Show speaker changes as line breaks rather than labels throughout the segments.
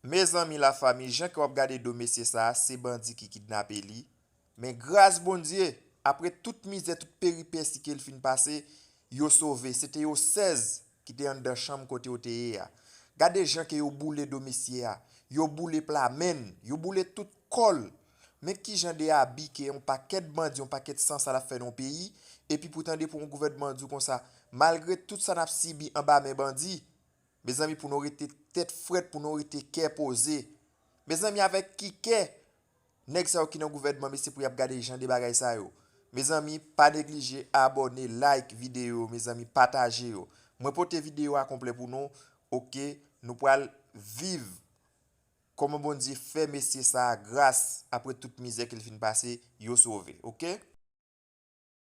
Mezanmi la fami jan ke wap gade do mesye sa se bandi ki kidnape li men gras Bondye apre tout mizè tout peripesi kel fin pase yo sove se te yo 16 ki te anndan chanm kote yo te ye a gade jan ke yo boule do mesye a yo boule pla menn yo boule tout kòl men kijan de abi ke yon pakèt bandi yon pakèt san sal ap fè nan yon peyi epi pou tande pou yon gouvènman di w konsa malgre tout sa nap sibi anba men bandi. Mezanmi pou nou rete tèt frèt pou nou rete kè poze mezanmi avèk ki kè nèg sa yo ki nan gouvènman mesye pou yap gade jan de bagay sa yo mezanmi pa neglije abòne like videyo yo mezanmi pataje yo mwen pote videyo a konplè pou nou ok nou pral viv kòman Bondye fè mesye sa gras apre tout mizè kel fin pase yo sove ok.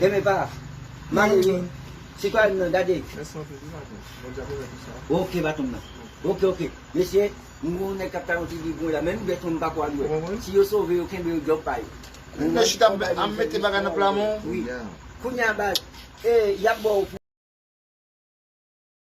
Deme pa Mare yo Sitwayen nan gade Ok baton nan Ok ok Mesye m gen yon nèg kap tayon ti viv mwen la menm bèt mwen m pako al wè Si yo sove yo kenbe yo djòb pa yo Mwen chita ap
mete bagay
nan
pla mwen
Kounya
baz
Yap
baw pou